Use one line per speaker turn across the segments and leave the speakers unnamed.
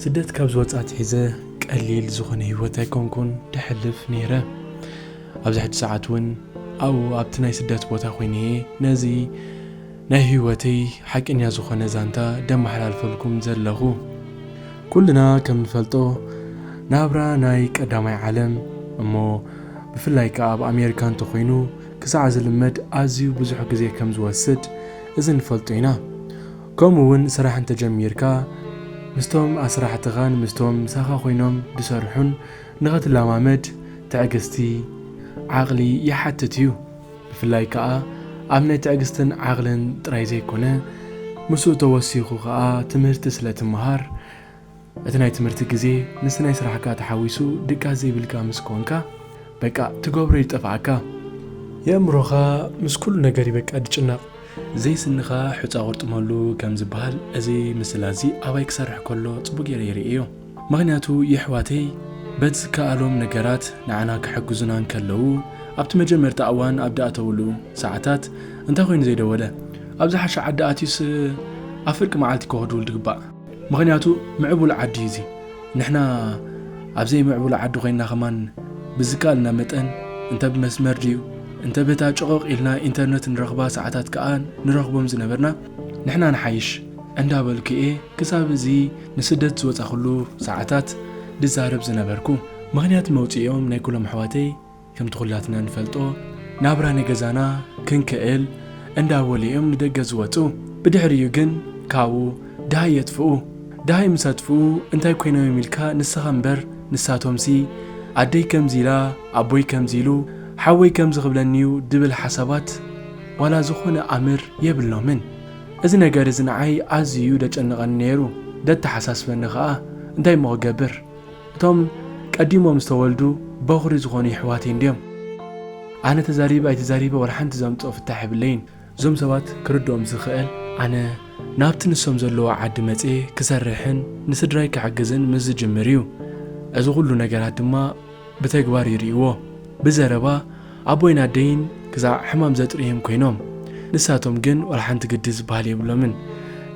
ስደት ካብ ዝወፅ ኣትሒዘ ቀሊል ዝኾነ ህይወት ኣይኮንኩን ደሕልፍ ነይረ ኣብዚ ሕጂ ሰዓት እውን ኣብኡ ኣብቲ ናይ ስደት ቦታ ኮይነ እየ ነዚ ናይ ህይወተይ ሓቂኛ ዝኾነ ዛንታ ደመሓላልፈልኩም ዘለኹ ኩልና ከም ንፈልጦ ናብራ ናይ ቀዳማይ ዓለም እሞ ብፍላይ ከዓ ኣብ ኣሜሪካ እንተኮይኑ ክሳዕ ዝልመድ ኣዝዩ ብዙሕ ግዜ ከም ዝወስድ እዚ ንፈልጦ ኢና። ከምኡ ውን ስራሕ እንተ ጀሚርካ ምስቶም ኣስራሕትኻን ምስቶም ምሳኻ ኮይኖም ዝሰርሑን ንኽትለማመድ ትዕግስቲ፣ ዓቕሊ፣ ይሓትት እዩ። ብፍላይ ከኣ ኣብ ናይ ትዕግስትን ዓቕልን ጥራይ ዘይኮነ ምስኡ ተወሲኹ ከኣ ትምህርቲ ስለ ትመሃር፣ እቲ ናይ ትምህርቲ ግዜ ምስቲ ናይ ስራሕካ ተሓዊሱ ድቃስ ዘይብልካ ምስ ኮንካ በቃ ትገብሮ ይጠፍኣካ። የእምሮኻ ምስ ኩሉ ነገር እዩ በቃ ድጭነቕ። ዘይስንኻ ሑጻ ቁርጥመሉ ከም ዝብሃል እዚ ምስላ እዚ ኣባይ ክሰርሕ ከሎ ጽቡቅ ጌረ ይርእዮ ምኽንያቱ የሕዋተይ በቲ ዝከኣሎም ነገራት ንዓና ክሕግዙና እንከለዉ ኣብቲ መጀመርታ እዋን ኣብ ድኣተውሉ ሰዓታት እንታይ ኮይኑ ዘይደወለ ኣብ ዝሓሸ ዓዲ ኣትዩስ ኣብ ፍርቂ መዓልቲ ከወድውል ድግባእ ምኽንያቱ ምዕቡል ዓዲ እዩ እዚ ንሕና ኣብዘይ ምዕቡል ዓዲ ኮይና ከማን ብዝካኣልና መጠን እንተ ብመስመር ድዩ እንተ በታ ጮቆቅ ኢልና ኢንተርነት ንረኽባ ሰዓታት ከኣ ንረኽቦም ዝነበርና ንሕና ንሓይሽ እንዳ በልኩ እየ ክሳብ እዚ ንስደት ዝወጻኹሉ ሰዓታት ድዛረብ ዝነበርኩ ምኽንያት መውጺኢኦም ናይ ኩሎም ኣሕዋተይ ከምቲ ኩላትና ንፈልጦ ናብራ ንገዛና ክንክእል እንዳ በሉ እዮም ንደገ ዝወጹ ብድሕሪኡ ግን ካብኡ ደሃይ የጥፍኡ ደሃይ ምስ ኣጥፍኡ እንታይ ኮይኖም እዮም ኢልካ ንስኻ እምበር ንሳቶምሲ ኣደይ ከምዚ ኢላ ኣቦይ ከምዚ ኢሉ ሓወይ ከምዚ ክብለኒ እዩ ድብል ሓሳባት ዋላ ዝኾነ ኣምር የብሎምን እዚ ነገር እዚ ንዓይ ኣዝዩ እዩ ደጨንቐኒ ነይሩ ደተሓሳስበኒ ከኣ እንታይ እሞ ክገብር እቶም ቀዲሞም ዝተወልዱ በኹሪ ዝኾኑ የሕዋተይ እንድዮም ኣነ ተዛሪበ ኣይተዛሪበ ወላ ሓንቲ ዘምጽኦ ፍታሕ የብለይን። እዞም ሰባት ክርድኦም ዝኽእል ኣነ ናብቲ ንሶም ዘለውዎ ዓዲ መጽየ ክሰርሕን ንስድራይ ክሕግዝን ምስ ዝጅምር እዩ እዚ ኩሉ ነገራት ድማ ብተግባር ይርእይዎ ብዘረባ ኣቦይን ኣደይን ክሳዕ ሕማም ዘጥርይም ኮይኖም ንሳቶም ግን ወላ ሓንቲ ግዲ ዝበሃል የብሎምን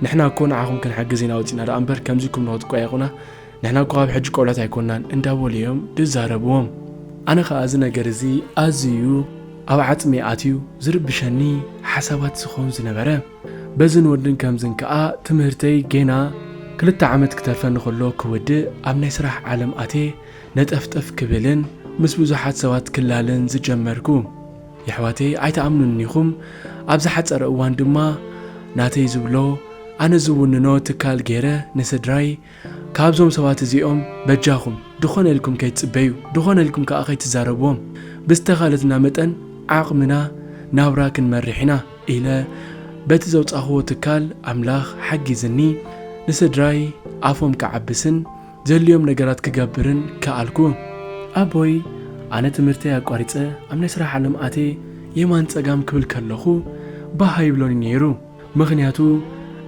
ንሕና እኮ ንዓኹም ክንሕግዝ ኢና ወጺእና ደኣ እምበር ከምዚ እኩም ንክትቋየቁና ንሕና እኳ ኣብ ሕጂ ቆልዑት ኣይኮናን እንዳበሉ እዮም ድዛረብዎም ኣነ ከኣ እዚ ነገር እዚ ኣዝዩ ኣብ ዓጽመይ ኣትዩ ዝርብሸኒ ሓሳባት ዝኸውን ዝነበረ በዝን ወድን ከምዝን ከኣ ትምህርተይ ጌና ክልተ ዓመት ክተርፈኒ ከሎ ክውድእ ኣብ ናይ ስራሕ ዓለም ኣቴ ነጠፍጠፍ ክብልን ምስ ብዙሓት ሰባት ክላለን ዝጀመርኩ የሕዋተይ ኣይትኣምኑን ኢኹም ኣብ ዝሓጸረ እዋን ድማ ናተይ ዝብሎ ኣነ ዝውንኖ ትካል ጌረ ንስድራይ ካብዞም ሰባት እዚኦም በጃኹም ድኾነ ኢልኩም ከይትጽበዩ ድኾነ ኢልኩም ከኣ ከይትዛረብዎም ብዝተኻለትና መጠን ዓቕምና ናብራ ክንመርሕ ኢና ኢለ በቲ ዘውጻኽዎ ትካል ኣምላኽ ሓጊዝኒ ንስድራይ ኣፎም ክዓብስን ዘድልዮም ነገራት ክገብርን ከኣልኩ። ኣቦይ ኣነ ትምህርተይ ኣቋሪጸ ኣብ ናይ ስራሕ ዓለም ኣትየ የማን ጸጋም ክብል ከለኹ ባህ ኣይብሎን'ዩ ነይሩ። ምኽንያቱ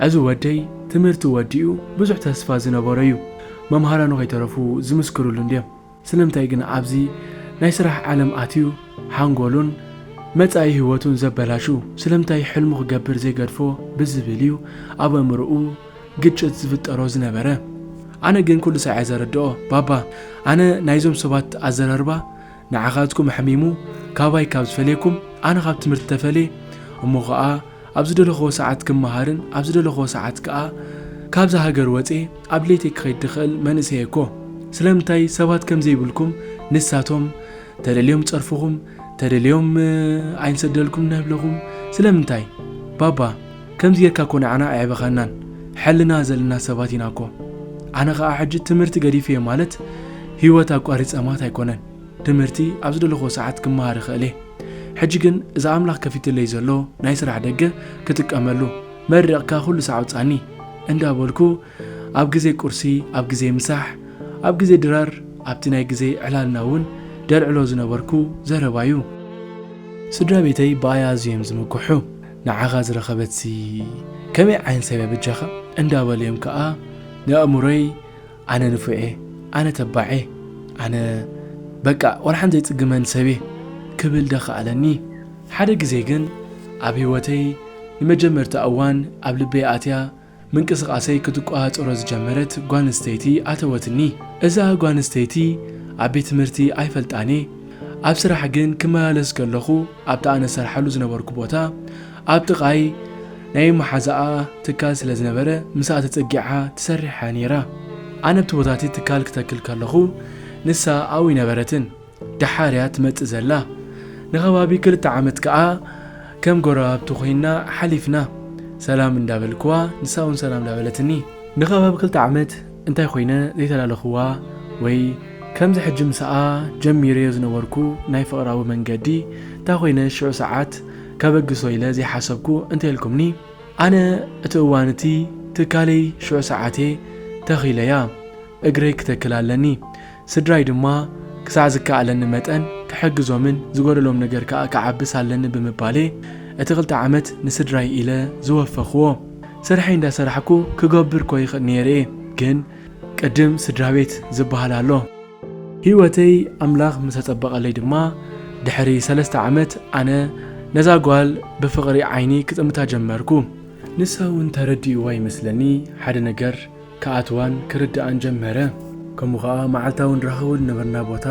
እዚ ወደይ ትምህርቱ ወዲኡ ብዙሕ ተስፋ ዝነበሮ እዩ መምሃራኑ ከይተረፉ ዝምስክርሉ እንድዮም ስለምንታይ ግን ኣብዚ ናይ ስራሕ ዓለም ኣትዩ ሓንጎሉን መጻኢ ሂወቱን ዘበላሹ ስለምንታይ ሕልሙ ክገብር ዘይገድፎ ብዝብል እዩ ኣብ ኣእምርኡ ግጭት ዝፍጠሮ ዝነበረ ኣነ ግን ኩሉ ሳዕ እየ ዘረድኦ ባባ ኣነ ናይዞም ሰባት ኣዘራርባ ንዓኻትኩም ኣሕሚሙ ካባይ ካብ ዝፈልየኩም ኣነ ካብ ትምህርቲ ተፈልየ እሞ ኸኣ ኣብ ዝደለኽዎ ሰዓት ክመሃርን ኣብ ዝደለኽዎ ሰዓት ከኣ ካብዛ ሃገር ወጼ ኣብ ለይተይ ክኸይድ ድኽእል መንእሰየ እኮ ስለምንታይ ሰባት ከም ዘይብልኩም ንሳቶም ተደልዮም ጸርፍኹም ተደልዮም ኣይንሰደልኩም ነብለኹም ስለምንታይ ባባ ከምዚ ጌርካ እኮ ንዓና ኣየዕበኻናን ሕልና ዘለና ሰባት ኢና እኮ ኣነ ከኣ ሕጂ ትምህርቲ ገዲፈዮ ማለት ሂወት ኣቋሪጸ ማት ኣይኮነን ትምህርቲ ኣብ ዝደለኽዎ ሰዓት ክመሃር ይኽእል እየ ሕጂ ግን እዚ ኣምላኽ ከፊትለይ ዘሎ ናይ ስራሕ ደገ ክጥቀመሉ መሪቕካ ኩሉ ሳዕ ኣውጻኒ እንዳ በልኩ ኣብ ግዜ ቁርሲ፣ ኣብ ግዜ ምሳሕ፣ ኣብ ግዜ ድራር፣ ኣብቲ ናይ ግዜ ዕላልና እውን ደልዕሎ ዝነበርኩ ዘረባ እዩ። ስድራ ቤተይ ብኣይ ኣዝዮም እዮም ዝምክሑ። ንዓኻ ዝረኸበትሲ ከመይ ዓይነት ሰብ እያ በጃኻ? እንዳበሉ እዮም ከኣ ንኣእምሮይ ኣነ ንፉዕ እየ፣ ኣነ ተባዕ እየ፣ ኣነ በቃ ዋላ ሓንቲ ዘይጽግመኒ ሰብ እየ ክብል ደኸኣለኒ። ሓደ ግዜ ግን ኣብ ህይወተይ ንመጀመርታ እዋን ኣብ ልበይ ኣትያ ምንቅስቓሰይ ክትቆፃፀሮ ዝጀመረት ጓል ኣንስተይቲ ኣተወትኒ። እዛ ጓል ኣንስተይቲ ኣብ ቤት ትምህርቲ ኣይፈልጣን እየ፣ ኣብ ስራሕ ግን ክመላለስ ከለኹ ኣብቲ ኣነ ዝሰርሓሉ ዝነበርኩ ቦታ ኣብ ጥቓይ ናይ መሓዛኣ ትካል ስለ ዝነበረ ምስኣ ተፀጊዓ ትሰርሕ እያ ነይራ። ኣነ ኣብቲ ቦታ እቲ ትካል ክተክል ከለኹ ንሳ ኣብኡ ኣይነበረትን። ደሓር እያ ትመጽእ ዘላ። ንከባቢ ክልተ ዓመት ከኣ ከም ጎረባብቲ ኮይንና ሓሊፍና። ሰላም እንዳበልክዋ ንሳ'ውን ሰላም እንዳበለትኒ። ንከባቢ ክልተ ዓመት እንታይ ኮይነ ዘይተላለኽዋ ወይ ከምዚ ሕጂ ምሳኣ ጀሚረዮ ዝነበርኩ ናይ ፍቕራዊ መንገዲ እንታይ ኮይነ ሽዑ ሰዓት ከበግሶ ኢለ ዘይሓሰብኩ እንተኢልኩምኒ ኣነ እቲ እዋን እቲ ትካለይ ሽዑ ሰዓት'የ ተኺለያ እግረይ ክተክል ኣለኒ ስድራይ ድማ ክሳዕ ዝከኣለኒ መጠን ክሕግዞምን ዝጎደሎም ነገር ከኣ ክዓብስ ኣለኒ ብምባል'የ እቲ ክልተ ዓመት ንስድራይ ኢለ ዝወፈኽዎ። ስርሐይ እንዳሰራሕኩ ክገብር'ኮ ይኽእል ነይረ'የ፣ ግን ቅድም ስድራቤት ዝበሃል ኣሎ። ህይወተይ ኣምላኽ ምስ ኣጸበቐለይ ድማ ድሕሪ ሰለስተ ዓመት ኣነ ነዛ ጓል ብፍቕሪ ዓይኒ ክጥምታ ጀመርኩ። ንሳ'ውን ተረዲእዋ ይመስለኒ ሓደ ነገር ክኣትዋን ክርድኣን ጀመረ። ከምኡ ከኣ መዓልታዊ ንራኸቦ ዝነበርና ቦታ፣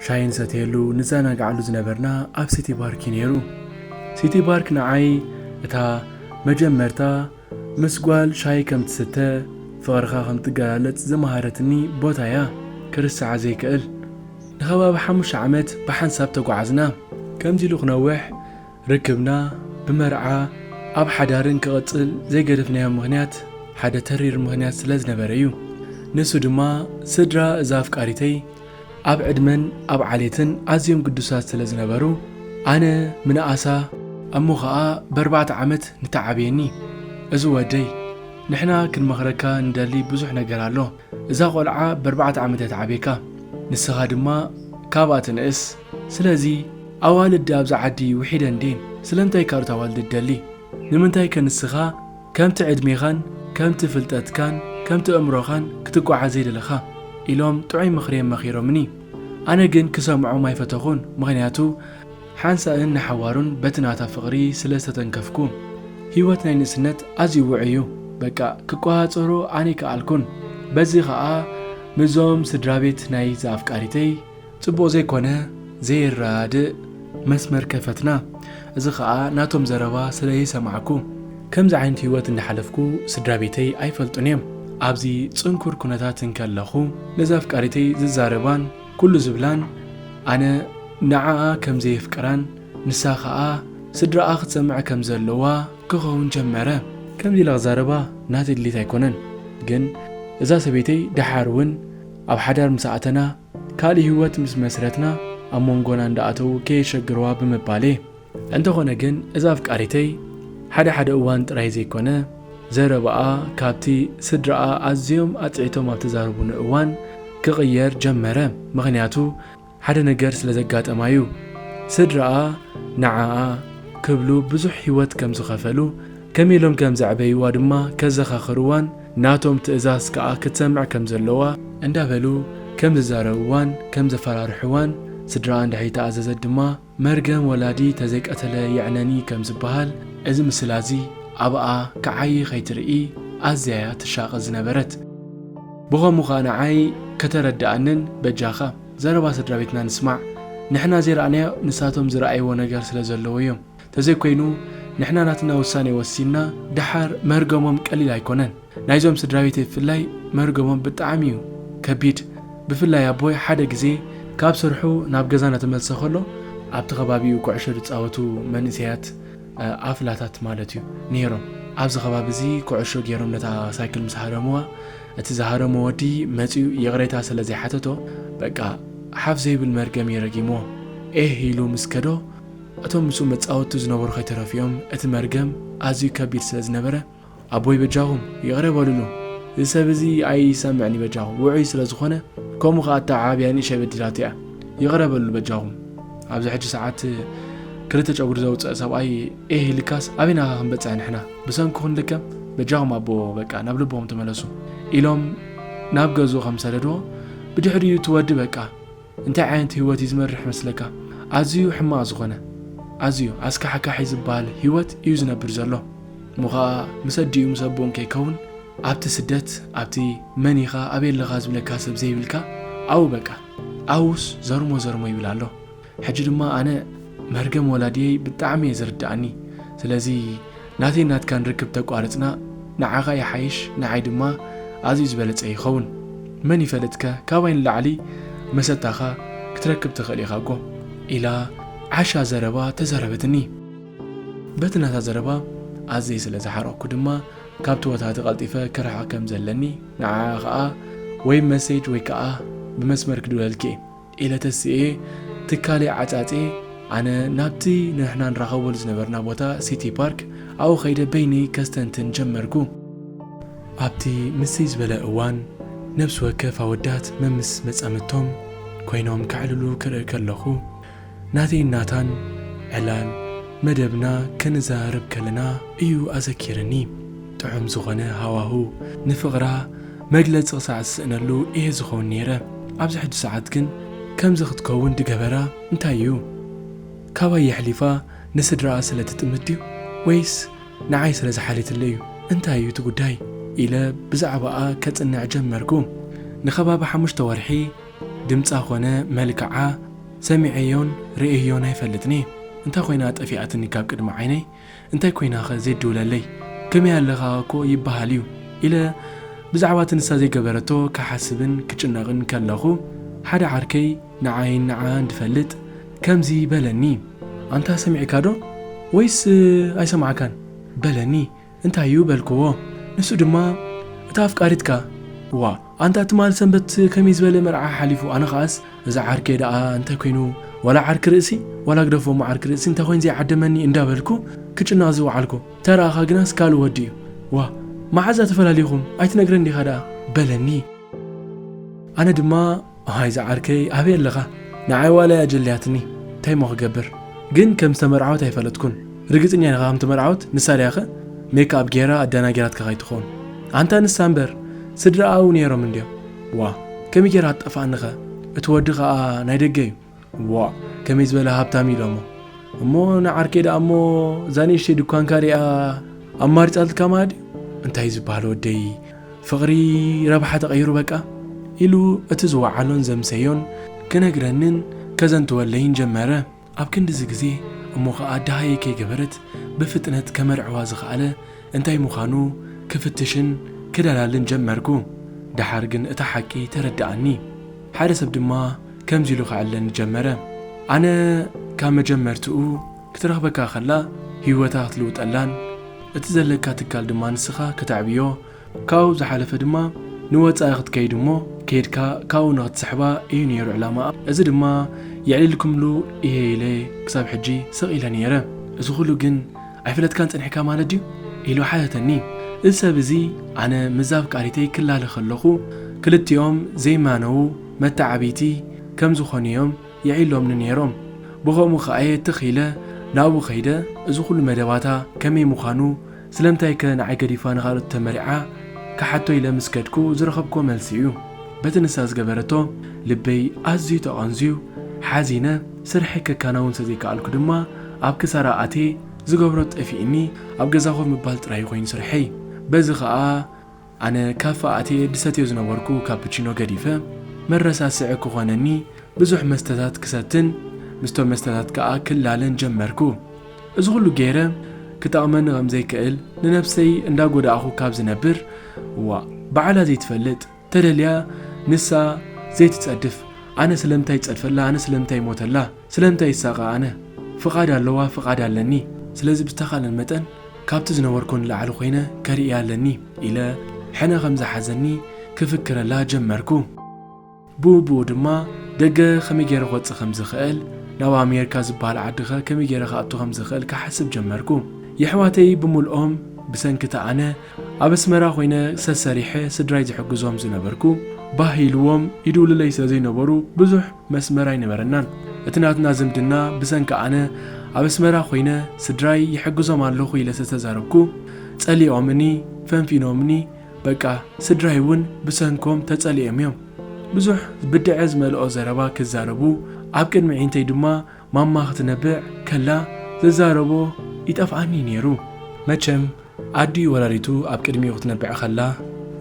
ሻሂ ንሰትየሉ ንዘናግዓሉ ዝነበርና ኣብ ሲቲ ባርክ'ዩ ነይሩ። ሲቲ ባርክ ንዓይ እታ መጀመርታ ምስ ጓል ሻሂ ከም ትስተ፣ ፍቕርኻ ከም ትገላለጽ ዝመሃረትኒ ቦታ'ያ፣ ክርስዓ ዘይክእል። ንከባቢ ሓሙሽተ ዓመት ብሓንሳብ ተጓዓዝና። ከምዚ ኢሉ ክነውሕ ርክብና ብመርዓ ኣብ ሓዳርን ክቕጽል ዘይገደፍናዮ ምኽንያት ሓደ ተሪር ምኽንያት ስለ ዝነበረ እዩ። ንሱ ድማ ስድራ እዛ ኣፍቃሪተይ ኣብ ዕድመን ኣብ ዓሌትን ኣዝዮም ግዱሳት ስለ ዝነበሩ ኣነ ምንኣሳ እሞ ኸኣ በርባዕተ ዓመት ንተዓብየኒ እዚ ወደይ ንሕና ክንመኽረካ ንደሊ ብዙሕ ነገር ኣሎ እዛ ቆልዓ በርባዕተ ዓመት እያ ትዓብየካ ንስኻ ድማ ካብኣ ትንእስ ስለዚ ኣዋልድ ኣብዛ ዓዲ ውሒደን ድየን? ስለምንታይ ካልኦት ኣዋልድ ትደሊ? ንምንታይከ ንስኻ ከምቲ ዕድሜኻን ከምቲ ፍልጠትካን ከምቲ ኣእምሮኻን ክትጓዓዝ ዘይደለኻ? ኢሎም ጥዑይ ምኽሪ'የም መኺሮምኒ። ኣነ ግን ክሰምዖም ኣይፈተኹን፣ ምኽንያቱ ሓንሳእን ንሓዋሩን በቲ ናታ ፍቕሪ ስለ ዝተተንከፍኩ። ህይወት ናይ ንእስነት ኣዝዩ ውዑይ'ዩ፣ በቃ ክቆጻጸሮ ኣነይከኣልኩን። በዚ ከኣ ምስዞም ስድራቤት ናይዛ ኣፍቃሪተይ፣ ጽቡቕ ዘይኮነ ዘይራድእ መስመር ከፈትና እዚ ከኣ ናቶም ዘረባ ስለ ዘይሰማዕኩ ከምዚ ዓይነት ሂወት እንዳሓለፍኩ ስድራቤተይ ኣይፈልጡን እዮም ኣብዚ ጽንኩር ኩነታት እንከለኹ ነዛ ኣፍቃሪተይ ዝዛረባን ኩሉ ዝብላን ኣነ ንዓኣ ከም ዘየፍቅራን ንሳ ከኣ ስድራኣ ክትሰምዕ ከም ዘለዋ ክኸውን ጀመረ። ከምዚ ኢለ ክዛረባ ናተይ ድሌት ኣይኮነን ግን እዛ ሰበይተይ ደሓር ውን ኣብ ሓዳር ምስ ኣእተና ካልእ ህይወት ምስ መስረትና ኣብ ሞንጎና እንዳኣተዉ ከየሸግርዋ ብምባል እየ። እንተኾነ ግን እዛ ኣፍቃሪተይ ሓደ ሓደ እዋን ጥራይ ዘይኮነ ዘረባኣ ካብቲ ስድራኣ ኣዝዮም ኣጽዒቶም ኣብ ተዛረቡኒ እዋን ክቕየር ጀመረ ምኽንያቱ ሓደ ነገር ስለ ዘጋጠማ እዩ ስድራኣ ንዓኣ ክብሉ ብዙሕ ህይወት ከም ዝኸፈሉ ከመይ ኢሎም ከም ዘዕበይዋ ድማ ከዘኻኽርዋን ናቶም ትእዛዝ ከኣ ክትሰምዕ ከም ዘለዋ እንዳበሉ ከም ዝዛረብዋን ከም ዘፈራርሕዋን ስድራኣ እንድሕሪ ተኣዘዘት ድማ መርገም ወላዲ ተዘይቀተለ የዕነኒ ከም ዝበሃል እዚ ምስላ እዚ ኣብኣ ክዓዪ ከይትርኢ ኣዝያ'ያ ትሻቐ ዝነበረት። ብኸምኡ ከኣ ንዓይ ከተረድኣንን በጃኻ ዘረባ ስድራቤትና ንስማዕ ንሕና ዘይረኣናዮ ንሳቶም ዝረኣይዎ ነገር ስለ ዘለዎ'ዮም። ተዘይኮይኑ ንሕና ናትና ውሳኔ ወሲንና ደሓር መርገሞም ቀሊል ኣይኮነን ናይዞም ስድራቤተይ ብፍላይ መርገሞም ብጣዕሚ እዩ ከቢድ ብፍላይ ኣቦይ ሓደ ግዜ ካብ ስርሑ ናብ ገዛ ናተመልሰ ከሎ ኣብቲ ከባቢኡ ኩዕሾ ዝጻወቱ መንእሰያት ኣፍላታት ማለት እዩ ኔሮም ኣብዚ ከባቢ እዚ ኩዕሾ ጌሮም ነታ ሳይክል ምስ ሃረምዋ እቲ ዝሃረሞ ወዲ መጺኡ ይቕሬታ ስለ ዘይሓተቶ በቃ ሓፍ ዘይብል መርገም እዩ ረጊምዎ ኤህ ኢሉ ምስ ከዶ እቶም ምስኡ መጻወቱ ዝነበሩ ከይተረፉ'ዮም፣ እቲ መርገም ኣዝዩ ከቢድ ስለ ዝነበረ፣ ኣቦይ በጃኹም ይቕረ በሉሉ፣ እዚ ሰብ እዚ ኣይሰምዕን'ዩ በጃኹም፣ ውዑይ ስለ ዝኾነ፣ ከምኡ ከኣ እታ ዓብያ ንእሸይ በዲላቶ'ያ፣ ይቕረ በሉሉ በጃኹም፣ ኣብዚ ሕጂ ሰዓት ክልተ ጨጉሪ ዘውጸእ ሰብኣይ ኤህ ኢልካስ ኣበይ ናኻ ክንበጽሕ ንሕና፣ ብሰንኩ ክንልከም፣ በጃኹም ኣቦ በቃ ናብ ልብኹም ተመለሱ፣ ኢሎም ናብ ገዝኡ ከም ዝሰደድዎ፣ ብድሕሪኡ እቲ ወዲ በቃ። እንታይ ዓይነት ህይወት እዩ ዝመርሕ መስለካ? ኣዝዩ ሕማቕ ዝኾነ፣ ኣዝዩ ኣስካሕካሒ ዝበሃል ህይወት እዩ ዝነብር ዘሎ። እሞ ኸኣ ምስ ኣዲኡ ምስ ኣቦኡን ከይከውን ኣብቲ ስደት ኣብቲ መን ኢኻ ኣበይ ኣለኻ ዝብለካ ሰብ ዘይብልካ ኣብኡ በቃ ኣብኡስ ዘርሞ ዘርሞ ይብል ኣሎ። ሕጂ ድማ ኣነ መርገም ወላድየይ ብጣዕሚ እየ ዝርድኣኒ ስለዚ ናተይን ናትካን ርክብ ተቋርጽና ንዓኻ ይሓይሽ ንዓይ ድማ ኣዝዩ ዝበለጸ ይኸውን መን ይፈልጥከ ካባይ ንላዕሊ መሰታኻ ክትረክብ ትኽእል ኢኻ'ጎ ኢላ ዓሻ ዘረባ ተዛረበትኒ። በቲ ናታ ዘረባ ኣዝየ ስለ ዝሓረቕኩ ድማ ካብቲ ቦታ'ቲ ቀልጢፈ ክርሕቕ ከም ዘለኒ ንዓኣ ከኣ ወይ መሴጅ ወይ ከኣ ብመስመር ክድውለልኪ'የ ኢለ ተሲኤ ትካለይ ዓጻጼ ኣነ ናብቲ ንሕና ንራኸበሉ ዝነበርና ቦታ ሲቲ ፓርክ ኣብኡ ከይደ በይነይ ከስተንትን ጀመርኩ። ኣብቲ ምስይ ዝበለ እዋን ነብሲ ወከፍ ኣወዳት መምስ መጻምድቶም ኮይኖም ከዕልሉ ክርኢ ከለኹ ናተይን ናታን ዕላል መደብና ከነዘራርብ ከለና እዩ ኣዘኪርኒ። ጥዑም ዝኾነ ሃዋህው ንፍቕራ መግለጺ ክሳዕ ዝስእነሉ እየ ዝኸውን ነይረ፣ ኣብዚ ሕጂ ሰዓት ግን ከምዚ ክትከውን ዝገበራ እንታይ እዩ? ካባይ የሕሊፋ ንስድራኣ ስለ ትጥምት ድዩ ወይስ ንዓይ ስለ ዝሓለትለይ እዩ? እንታይ እዩ እቲ ጉዳይ? ኢለ ብዛዕባኣ ከጽንዕ ጀመርኩ። ንከባቢ ሓሙሽተ ወርሒ ድምጻ ኮነ መልክዓ ሰሚዐዮን ርእየዮን ኣይፈልጥን'የ። እንታይ ኮይና ጠፊኣትኒ ካብ ቅድሚ ዓይነይ? እንታይ ኮይናኸ ዜድ ድውለለይ ከመይ ኣለኻ እኮ ይበሃል እዩ ኢለ ብዛዕባ እቲ ንሳ ዘይገበረቶ ክሓስብን ክጭነቕን ከለኹ ሓደ ዓርከይ ንዓይን ንዓኣን ድፈልጥ ከምዚ በለኒ። ኣንታ ሰሚዕካ ዶ ወይስ ኣይሰማዕካን በለኒ እንታይ እዩ በልክዎ ንሱ ድማ እታ ኣፍቃሪትካ ዋእ ኣንታ ትማል ሰንበት ከመይ ዝበለ መርዓ ሓሊፉ ኣነ ከኣስ እዚ ዓርከይ ደኣ እንታይ ኮይኑ ዋላ ዓርኪ ርእሲ ዋላ ግደፎ እሞ ዓርኪ ርእሲ እንታይ ኮይኑ ዘይዓደመኒ እንዳ በልኩ ክጭነቕ ዝወዓልኩ እንተ ረኣኻ ግናስ ካልእ ወዲ እዩ ዋእ መዓዛ ተፈላሊኹም ኣይትነግረን ዲኻ ደኣ በለኒ ኣነ ድማ ኣሃይ ዝዓርከይ ኣበይ ኣለኻ ንዓይ ዋላ እያ ኣጀልያትኒ እንታይ እሞ ክገብር ግን ከም ዝተመርዓወት ኣይፈለጥኩን ርግጽኛ ኢኻ ከምቲ መርዓውት ንሳ ድያኸ ሜክኣብ ጌራ ኣዳናጊራትካ ከይትኾን ኣንታ ንሳ እምበር ስድራኣኡ ነይሮም እንድዮም ዋእ ከመይ ጌራ ትጠፋኣኒኸ እቲ ወዲ ከኣ ናይ ደገ እዩ ዋእ ከመይ ዝበለ ሃብታም እዩ ዶሞ እሞ ንዓርከይ ደኣ እሞ እዛ ንእሽተይ ድኳንካ ሪኣ ኣማሪጻልትካ ማለት እዩ እንታይ እዩ ዝበሃል ወደይ ፍቕሪ ረብሓ ተቐይሩ በቃ ኢሉ እቲ ዝወዓሎን ዘምሰዮን ክነግረንን ከዘንትወለይን ጀመረ ኣብ ክንድዚ ግዜ እሞ ኸኣ ደሃይ ከይገበረት ብፍጥነት ከመርዕዋ ዝኸኣለ እንታይ ምዃኑ ክፍትሽን ክደላልን ጀመርኩ። ደሓር ግን እቲ ሓቂ ተረደኣኒ። ሓደ ሰብ ድማ ከምዚ ኢሉ ኸዕለኒ ጀመረ፣ ኣነ ካብ መጀመርትኡ ክትረኽበካ ኸላ ህይወታ ክትልውጠላን እቲ ዘለካ ትካል ድማ ንስኻ ከተዕብዮ ካብኡ ዝሓለፈ ድማ ንወጻኢ ክትከይድ እሞ ከይድካ ካብኡ ንክትስሕባ ኢዩ ነይሩ ዕላማኣ። እዚ ድማ የዕሊልኩምሉ ኢየ ኢለ ክሳብ ሕጂ ስቕ ኢለ ነይረ። እዚ ኩሉ ግን ኣይፈለጥካን ጸኒሕካ ማለት ድዩ? ኢሉ ሓተተኒ። እዚ ሰብ እዚ ኣነ ምስዛ ኣፍቃሪተይ ክላለ ከለኹ ክልቲኦም ዘይማነዉ መተዓብይቲ ከም ዝኾኑ ኢዮም የዕሊሎምኒ ነይሮም። ብኸምኡ ከኣ'የ ትኽ ኢለ ናብኡ ከይደ እዚ ኩሉ መደባታ ከመይ ምዃኑ ስለምንታይ ከ ንዓይ ገዲፋ ንኻልኦት ተመሪዓ? ክሓቶ ኢለ ምስ ከድኩ ዝረኸብኩዎ መልሲ እዩ። በቲ ንሳ ዝገበረቶ ልበይ ኣዝዩ ተቐንዝዩ፣ ሓዚነ፣ ስርሐይ ከካናውን ስለ ዘይከኣልኩ ድማ ኣብ ክሳራ ኣትየ፣ ዝገብሮ ጠፊኡኒ ኣብ ገዛ ኮፍ ምባል ጥራይ ኮይኑ ስርሐይ። በዚ ከኣ። ኣነ ካፈ ኣትየ ድሰትዮ ዝነበርኩ ካፕቺኖ ገዲፈ መረሳስዒ ክኾነኒ ብዙሕ መስተታት ክሰትን ምስቶም መስተታት ከኣ ክላለን ጀመርኩ። እዚ ኹሉ ገይረ ክጠቕመኒ ከም ዘይክእል ንነብሰይ እንዳ ጎዳእኹ ካብ ዝነብር ዋእ ባዕላ ዘይትፈልጥ ተደልያ ንሳ ዘይትጸድፍ ኣነ ስለምንታይ ይጸድፈላ ኣነ ስለምንታይ ይሞተላ ስለምንታይ ይሳቐ ኣነ ፍቓድ ኣለዋ ፍቓድ ኣለኒ ስለዚ ብዝተኻለን መጠን ካብቲ ዝነበርኩ ንላዕሊ ኮይነ ከርእያ ኣለኒ ኢለ ሕነ ከም ዝሓዘኒ ክፍክረላ ጀመርኩ። ብኡብኡ ድማ ደገ ከመይ ገይረ ክወጽእ ከም ዝኽእል ናብ ኣሜርካ ዝበሃል ዓዲኸ ከመይ ገይረ ክኣቱ ከም ዝኽእል ክሓስብ ጀመርኩ። የሕዋተይ ብምልኦም ብሰንኪቲ ኣነ ኣብ ኣስመራ ኮይነ ሰሰሪሐ ስድራይ ዝሕግዞም ዝነበርኩ ባህ ኢልዎም ይድውሉለይ ስለ ዘይነበሩ ብዙሕ መስመር ኣይነበረናን እቲ ናትና ዝምድና ብሰንኪ ኣነ ኣብ ኣስመራ ኮይነ ስድራይ ይሕግዞም ኣለኹ ኢለ ሰተዛረብኩ ጸሊኦምኒ ፈንፊኖምኒ በቃ ስድራይ ውን ብሰንኮም ተጸሊኦም እዮም ብዙሕ ብድዐ ዝመልኦ ዘረባ ክዛረቡ ኣብ ቅድሚ ዒንተይ ድማ ማማ ክትነብዕ ከላ ዝዛረቦ ይጠፍኣኒ ኔሩ። መቸም ኣዲኡ ወላዲቱ ኣብ ቅድሚኡ ክትነብዕ ከላ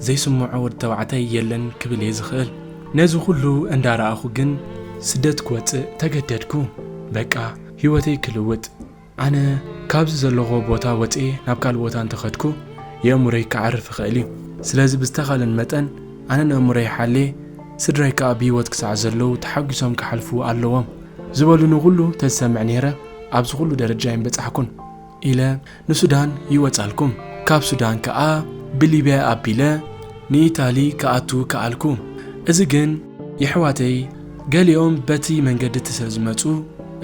ዘይስምዖ ወዲ ተባዕታይ የለን ክብል እየ ዝኽእል። ነዚ ኩሉ እንዳ ረኣኹ ግን ስደት ክወጽእ ተገደድኩ። በቃ ሂወተይ ክልውጥ ኣነ ካብዚ ዘለኹዎ ቦታ ወጽየ ናብ ካልእ ቦታ እንተ ከድኩ የእሙረይ ክዓርፍ ይኽእል እዩ። ስለዚ ብዝተኻለን መጠን ኣነ ነእሙረይ ሓልየ ስድራይ ከኣ ብሂወት ክሳዕ ዘለዉ ተሓጉሶም ክሓልፉ ኣለዎም። ዝበሉኒ ኩሉ ተዝሰምዕ ነይረ ኣብዚ ኩሉ ደረጃ ኣይምበጻሕኩን ኢለ ንሱዳን ይወጻልኩም ካብ ሱዳን ከኣ ብሊብያ ኣቢለ ንኢታሊ ክኣቱ ከኣልኩ እዚ ግን የሕዋተይ ገሊኦም በቲ መንገዲ እቲ ስለዝመጹ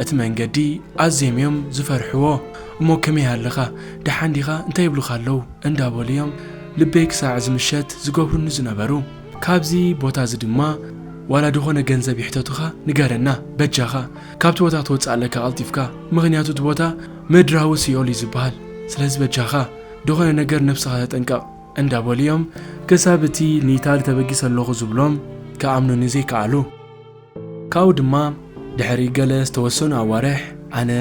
እቲ መንገዲ ኣዝዬም እዮም ዝፈርሕዎ እሞ ከመይ ኣለኻ ደሓን ዲኻ እንታይ ይብሉኻ ኣለው እንዳበሉ እዮም ልበይ ክሳዕ እዚ ምሸት ዝገብሩኒ ዝነበሩ ካብዚ ቦታ እዚ ድማ ዋላ ድኾነ ገንዘብ ይሕተቱኻ ንገረና በጃኻ ካብቲ ቦታ ክትወጽእ ኣለካ ቀልጢፍካ ምኽንያቱ እቲ ቦታ ምድራዊ ሲኦል እዩ ዝበሃል ስለዚ በጃኻ ድኾነ ነገር ነብስኻ ተጠንቀቕ እንዳበሉ እዮም ክሳብ እቲ ንኢታሊ ተበጊሰ ኣለኹ ዝብሎም ክኣምኑኒ ዘይከኣሉ። ካብኡ ድማ ድሕሪ ገለ ዝተወሰኑ ኣዋርሕ ኣነ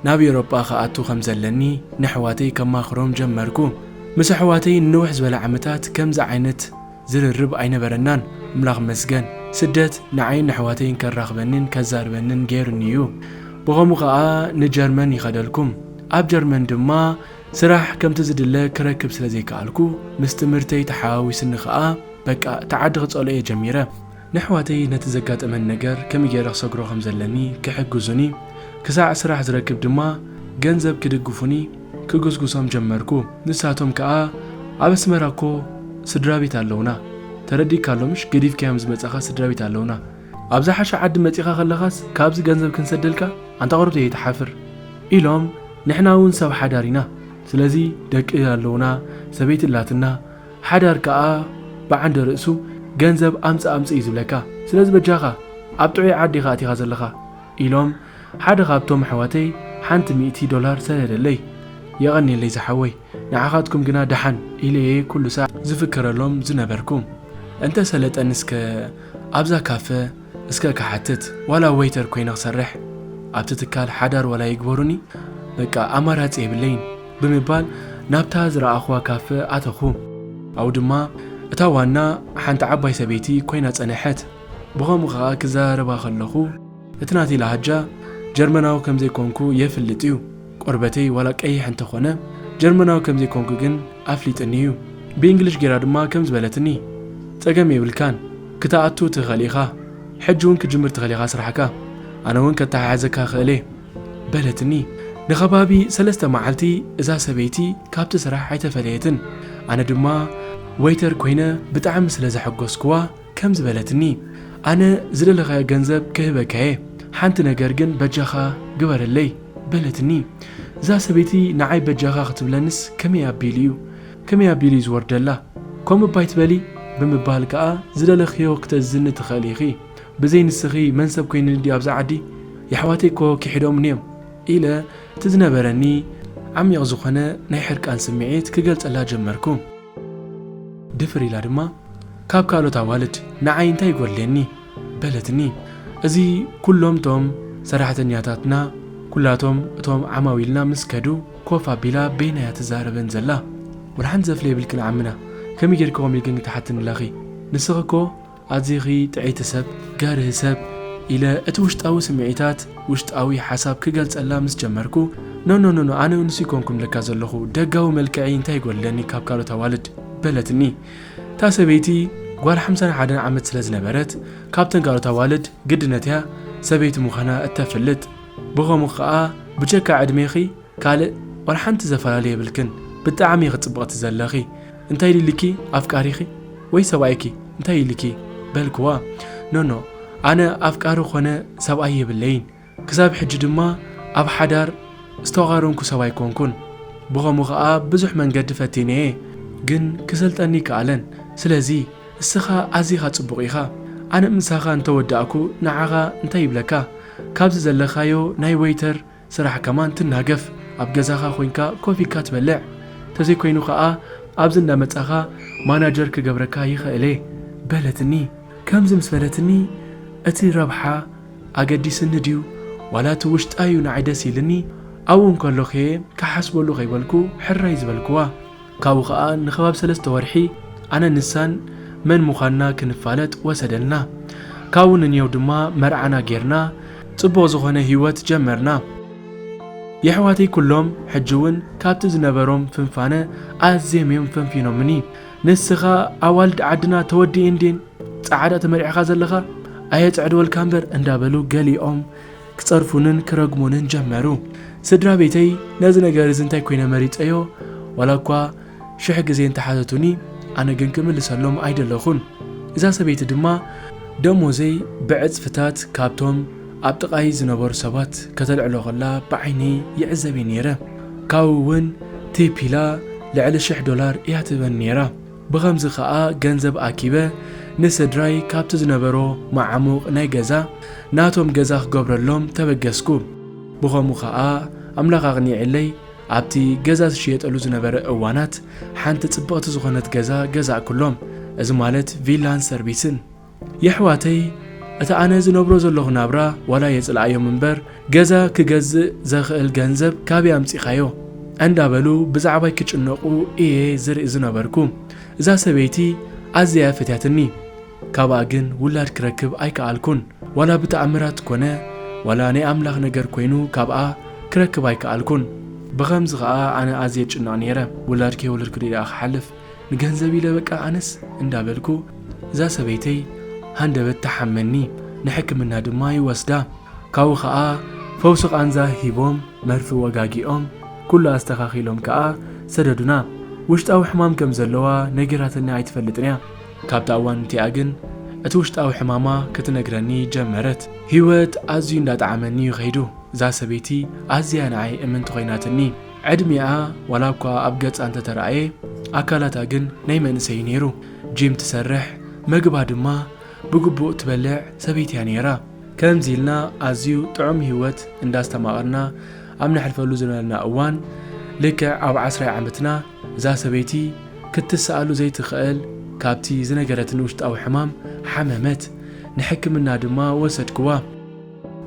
ናብ ኤውሮጳ ክኣቱ ከም ዘለኒ ነሕዋተይ ከማኽሮም ጀመርኩ። ምስ ኣሕዋተይ ንንውሕ ዝበለ ዓመታት ከምዚ ዓይነት ዝርርብ ኣይነበረናን። ኣምላኽ ይመስገን ስደት ንዓይን ነሕዋተይን ከራኽበኒን ከዛርበንን ገይሩኒ እዩ። ብኸምኡ ከኣ ንጀርመን ይኸደልኩ። ኣብ ጀርመን ድማ ስራሕ ከምቲ ዝድለ ክረክብ ስለ ዘይከኣልኩ ምስ ትምህርተይ ተሓዋዊስኒ ከኣ በቃ እቲ ዓዲ ክጸልኦ እየ ጀሚረ። ነሕዋተይ ነቲ ዘጋጠመኒ ነገር ከመይ ጌረ ክሰግሮ ከም ዘለኒ ክሕግዙኒ ክሳዕ ስራሕ ዝረክብ ድማ ገንዘብ ክድግፉኒ ክጉስጉሶም ጀመርኩ ንሳቶም ከኣ ኣብ ኣስመራ እኮ ስድራቤት ኣለውና ተረዲእካ ኣሎ ምሽ ገዲፍካዮም ዝመጻኻ ስድራቤት ኣለውና ኣብ ዝሓሸ ዓዲ መጺኻ ከለኻስ ካብዚ ገንዘብ ክንሰደልካ ኣንታ ቅሩብ ዘይትሓፍር ኢሎም ንሕና ውን ሰብ ሓዳር ኢና ስለዚ ደቂ ኣለውና ሰበይቲ ኣላትና ሓዳር ከኣ ብዓንደ ርእሱ ገንዘብ ኣምጽእ ኣምጽእ እዩ ዝብለካ ስለዚ በጃኻ ኣብ ጥዑይ ዓዲ ኢኻ ኣቲኻ ዘለኻ ኢሎም ሓደ ካብቶም ኣሕዋተይ ሓንቲ ሚእቲ ዶላር ሰደደለይ የቐንየለይ ዝሓወይ ንዓኻትኩም ግና ደሓን ኢለየ ኩሉ ሳዕ ዝፍክረሎም ዝነበርኩ እንተ ሰለጠኒ እስከ ኣብዛ ካፈ እስከ ክሓትት ዋላ ወይተር ኮይነ ክሰርሕ ኣብቲ ትካል ሓዳር ዋላ ይግበሩኒ በቃ ኣማራጺ የብለይን። ብምባል ናብታ ዝረኣኹዋ ካፈ ኣተኹ። ኣብኡ ድማ እታ ዋና ሓንቲ ዓባይ ሰበይቲ ኮይና ጸነሐት። ብኸምኡ ከኣ ክዘራረባ ከለኹ እቲ ናተይ ላሃጃ ጀርመናዊ ከም ዘይኮንኩ የፍልጥ እዩ። ቆርበተይ ዋላ ቀይሕ እንተ ኾነ ጀርመናዊ ከም ዘይኮንኩ ግን ኣፍሊጥኒ እዩ። ብእንግሊሽ ጌራ ድማ ከምዚ በለትኒ ጸገም የብልካን ክተኣቱ ትኽእል ኢኻ ሕጂ ውን ክትጅምር ትኽእል ኢኻ ስራሕካ ኣነ ውን ከተሓሕዘካ እኽእል እየ። በለትኒ። ንኸባቢ ሰለስተ መዓልቲ እዛ ሰበይቲ ካብቲ ስራሕ ኣይተፈለየትን። ኣነ ድማ ወይተር ኰይነ ብጣዕሚ ስለ ዘሐጐስክዋ ከምዚ በለትኒ፣ ኣነ ዝደለኻዮ ገንዘብ ክህበካ'የ፣ ሓንቲ ነገር ግን በጃኻ ግበረለይ። በለትኒ። እዛ ሰበይቲ ንዓይ በጃኻ ክትብለንስ ከመይ ኣቢሉ'ዩ ከመይ ኣቢሉ'ዩ ዝወርደላ? ከምኡ'ባ ኣይትበሊ! ብምባል ከኣ ዝደለኽዮ ክተእዝዝኒ ትኽእሊ ኢኺ። ብዘይ ንስኺ መን ሰብ ኮይንኒ ድዩ ኣብዛ ዓዲ? የሕዋተይ እኮ ኪሒዶምኒ እዮም ኢለ እቲ ዝነበረኒ ዓሚቕ ዝኾነ ናይ ሕርቃን ስምዒት ክገልጸላ ጀመርኩ። ድፍር ኢላ ድማ ካብ ካልኦት ኣዋልድ ንዓይ እንታይ ይጎድሌኒ? በለትኒ። እዚ ኩሎም እቶም ሰራሕተኛታትና ኩላቶም እቶም ዓማዊልና ምስ ከዱ ኮፍ ኣቢላ በይና እያ ትዛረበን ዘላ። ወላ ሓንቲ ዘፍለየ የብልክን ዓምና ከመይ ጌርኪ ከምኡ ኢልክን ክትሓትኒ ለኺ ንስኺ እኮ ኣዚኺ ጥዕይቲ ሰብ፣ ገርሂ ሰብ፣ ኢለ እቲ ውሽጣዊ ስምዒታት፣ ውሽጣዊ ሓሳብ ክገልጸላ ምስ ጀመርኩ፣ ኖኖኖኖ ኣነ ንሱ ኣይኮንኩን ለካ ዘለኹ፣ ደጋዊ መልክዐይ እንታይ ይጎድለኒ ካብ ካልኦት ኣዋልድ? በለትኒ። እታ ሰበይቲ ጓል ሓምሳን ሓደን ዓመት ስለ ዝነበረት፣ ካብተን ካልኦት ኣዋልድ ግድነት'ያ ሰበይቲ ምዃና እተፍልጥ። ብኸምኡ ከኣ ብጀካ ዕድሜኺ ካልእ ዋላ ሓንቲ ዘፈላለ የብልክን ብጣዕሚ ኢኺ ጽብቕቲ ዘለኺ እንታይ ኢሊኪ ኣፍቃሪኺ ወይ ሰብኣይኪ እንታይ ኢሊኪ በልክዋ ኖኖ ኣነ ኣፍቃሪ ኮነ ሰብኣይ የብለይን ክሳብ ሕጂ ድማ ኣብ ሓዳር ዝተቛረንኩ ሰብ ኣይኮንኩን ብኸምኡ ከኣ ብዙሕ መንገዲ ፈቲነየ ግን ክሰልጠኒ ኣይከኣለን ስለዚ እስኻ ኣዚኻ ጽቡቕ ኢኻ ኣነ ምሳኻ እንተወዳእኩ ንዓኻ እንታይ ይብለካ ካብዚ ዘለካዮ ናይ ወይተር ስራሕ ከማን ትናገፍ ኣብ ገዛኻ ኮንካ ኮፍ ኢልካ ትበልዕ ተዘይ ኮይኑ ከኣ ኣብዚ እንዳ መጻኻ ማናጀር ክገብረካ ይኽእል'የ በለትኒ ከምዚ ምስ በለትኒ እቲ ረብሓ ኣገዲስኒ ድዩ ዋላ እቲ ውሽጣ'ዩ ንዓይ ደስ ኢልኒ ኣብኡ እንከሎኹ'የ ክሓስበሉ ከይበልኩ ሕራይ ዝበልክዋ። ካብኡ ከኣ ንከባቢ ሰለስተ ወርሒ ኣነን ንሳን መን ምዃንና ክንፋለጥ ወሰደልና። ካብኡ ንንየው ድማ መርዓና ጌርና ጽቡቕ ዝኾነ ህይወት ጀመርና። የሕዋተይ ኩሎም ሕጂ'ውን ካብቲ ዝነበሮም ፍንፋነ ኣዝዬም እዮም ፈንፊኖምኒ። ንስኻ ኣዋልድ ዓድና ተወዲኤን ድየን ጸዓዳ ተመርዒኻ ዘለኻ ኣየጸዕድወልካ'ምበር እንዳበሉ ገሊኦም ክጸርፉንን ክረግሙንን ጀመሩ። ስድራ ቤተይ ነዚ ነገር እዚ እንታይ ኰይነ መሪጸዮ፣ ዋላ እኳ ሽሕ ግዜ እንተ ሓተቱኒ፣ ኣነ ግን ክምልሰሎም ኣይደለኹን። እዛ ሰበይቲ ድማ ደሞዘይ ብዕጽፍታት ካብቶም ኣብ ጥቓይ ዝነበሩ ሰባት ከተልዕሎ ኸላ ብዓይኒ ይዕዘብ እየ ነይረ። ካብኡ እውን ቲፕ ኢላ ልዕሊ ሽሕ ዶላር እያ ትህበኒ ነይራ። ብኸምዚ ከኣ ገንዘብ ኣኪበ ንስድራይ ካብቲ ዝነበሮ መዓሙቕ ናይ ገዛ ናቶም ገዛ ክገብረሎም ተበገስኩ። ብኸምኡ ከኣ ኣምላኽ ኣቕኒዕለይ ኣብቲ ገዛ ዝሽየጠሉ ዝነበረ እዋናት ሓንቲ ጽብቕቲ ዝኾነት ገዛ ገዛእኩሎም፣ እዚ ማለት ቪላን ሰርቢስን። የሕዋተይ እቲ ኣነ ዝነብሮ ዘለኹ ናብራ ዋላ የጽልኣዮም እምበር ገዛ ክገዝእ ዘኽእል ገንዘብ ካበይ ኣምጺኻዮ ኣንዳበሉ ብዛዕባይ ክጭነቁ ኢየ ዝርኢ ዝነበርኩ እዛ ሰበይቲ ኣዝያ ኢያ ፈትያትኒ ካብኣ ግን ውላድ ክረክብ ኣይከኣልኩን ዋላ ብተኣምራት ኮነ ዋላ ናይ ኣምላኽ ነገር ኮይኑ ካብኣ ክረክብ ኣይከኣልኩን ብኸምዚ ከኣ ኣነ ኣዝየ እጭነቅ ኔረ ውላድ ከይወለድኩ ድየ ደኣ ክሓልፍ ንገንዘብ ኢለ በቃ ኣነስ እንዳ በልኩ እዛ ሰበይተይ ሃንደበት ትሓመኒ ንሕክምና ድማ ይወስዳ ካብኡ ከኣ ፈውሲ ቃንዛ ሂቦም መርፊ ወጋጊኦም ኩሉ ኣስተካኪሎም ከኣ ሰደዱና ውሽጣዊ ሕማም ከም ዘለዋ ነጊራትኒ ኣይትፈልጥን እያ ካብታ እዋን እቲኣ ግን እቲ ውሽጣዊ ሕማማ ክትነግረኒ ጀመረት ሂወት ኣዝዩ እንዳጠዓመኒ እዩ ከይዱ እዛ ሰበይቲ ኣዝያ ንዓይ እምንቲ ኮይናትኒ ዕድሚኣ ዋላኳ ኣብ ገጻ እንተተራእየ ኣካላታ ግን ናይ መንእሰይ እዩ ነይሩ። ጂም ትሰርሕ፣ መግባ ድማ ብግቡእ ትበልዕ ሰበይቲ እያ ነይራ። ከምዚ ኢልና ኣዝዩ ጥዑም ህይወት እንዳስተማቐርና ኣብ ነሕልፈሉ ዝነበርና እዋን፣ ልክዕ ኣብ ዓስራይ ዓመትና እዛ ሰበይቲ ክትስኣሉ ዘይትኽእል ካብቲ ዝነገረትኒ ውሽጣዊ ሕማም ሓመመት። ንሕክምና ድማ ወሰድክዋ።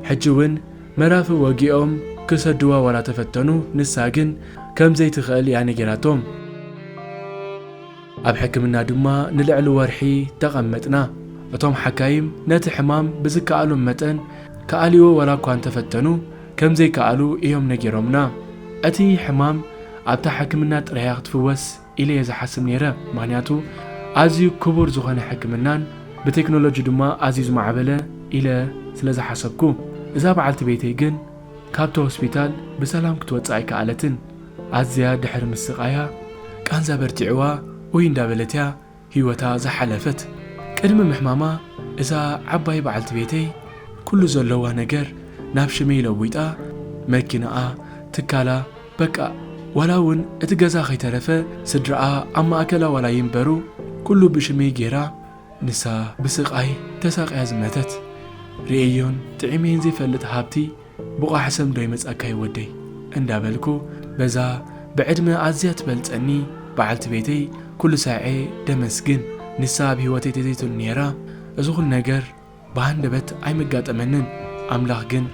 ሕጂ እውን መራፍእ ወጊኦም ክሰድዋ ዋላ ተፈተኑ ንሳ ግን ከምዘይትኽእል እያ ነጊራቶም። ኣብ ሕክምና ድማ ንልዕሊ ወርሒ ተቐመጥና። እቶም ሓካይም ነቲ ሕማም ብዝከኣሎም መጠን ክኣልይዎ ዋላ እኳ እንተፈተኑ ከምዘይከኣሉ እዮም ነጊሮምና። እቲ ሕማም ኣብታ ሕክምና ጥራይ እያ ክትፍወስ። ኢለ እየ ዝሓስብ ነይረ፣ ምኽንያቱ ኣዝዩ ክቡር ዝኾነ ሕክምናን ብቴክኖሎጂ ድማ ኣዝዩ ዝማዕበለ ኢለ ስለ ዝሓሰብኩ። እዛ በዓልቲ ቤተይ ግን ካብቲ ሆስፒታል ብሰላም ክትወጽእ ኣይከኣለትን፣ ኣዝያ ድሕሪ ምስቓያ ቃንዛ በርቲዕዋ ኡይ እንዳበለት እያ ህይወታ ዝሓለፈት። ቅድሚ ምሕማማ እዛ ዓባይ በዓልቲ ቤተይ ኩሉ ዘለዋ ነገር ናብ ሽመይ ለዊጣ መኪናኣ፣ ትካላ በቃ ዋላ ውን እቲ ገዛ ከይተረፈ ስድራኣ ኣብ ማእከላ ዋላ ይንበሩ ኩሉ ብሽመይ ጌራ ንሳ ብስቃይ ተሳቅያ ዝመተት ሪኤዮን ጥዒመዮን ዘይፈልጥ ሃብቲ ብቛሕ ሰም ዶ ይመጻካ ዩ ወደይ እንዳ በልኩ በዛ ብዕድመ ኣዝያ ትበልጸኒ በዓልቲ ቤተይ ኩሉ ሳዔ ደመስግን ንሳ ኣብ ሂወተይ ተዘይትሉ ኔራ እዚ ኩሉ ነገር ብሃንደበት ኣይመጋጠመንን ኣምላኽ ግን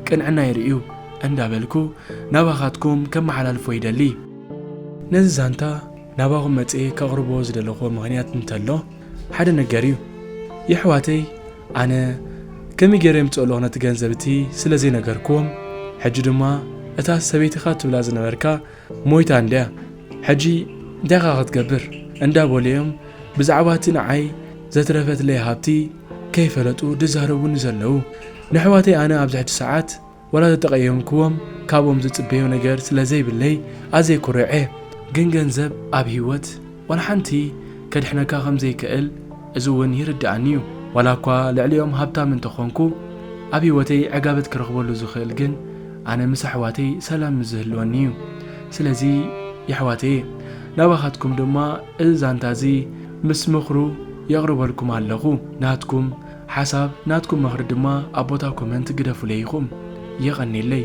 ቅንዕናይ ርእዩ እንዳ በልኩ ናባኻትኩም ከመሓላልፎ ይደሊ። ነዚ ዛንታ ናባኹም መጽየ ከቕርቦ ዝደለኹዎ ምኽንያት እንተሎ ሓደ ነገር ዩ የሕዋተይ ኣነ ከመይ ገይረ የምጽኦ'ለኹ ነቲ ገንዘብ እቲ ስለ ዘይነገርክዎም፣ ሕጂ ድማ እታ ሰበይትኻ ትብላ ዝነበርካ ሞይታ እንድያ ሕጂ እንታይ ኢኻ ክትገብር እንዳበሉ'ዮም ብዛዕባ እቲ ንዓይ ዘትረፈትለይ ሃብቲ ከይፈለጡ ዝዛረቡኒ ዘለዉ። ነሕዋተይ ኣነ ኣብዚ ሕጂ ሰዓት ወላ ተተቐየምክዎም ካብኦም ዝጽበዮ ነገር ስለ ዘይብለይ ኣዝየ ኩሩዕ እየ። ግን ገንዘብ ኣብ ህይወት ዋላ ሓንቲ ከድሕነካ ከም ዘይክእል እዚ እውን ይርድኣኒ እዩ። ዋላ እኳ ልዕሊኦም ሃብታም እንተ ኾንኩ ኣብ ህይወተይ ዕጋበት ክረኽበሉ ዝኽእል ግን ኣነ ምስ ኣሕዋተይ ሰላም ምስ ዝህልወኒ እዩ። ስለዚ የሕዋተየ ናባኻትኩም ድማ እዚ ዛንታ እዚ ምስ ምኽሩ የቕርበልኩም ኣለኹ። ናትኩም። ሓሳብ ናትኩም መኽሪ ድማ ኣብ ቦታ ኮመንት ግደፉለይ ኢኹም። የቐኔለይ።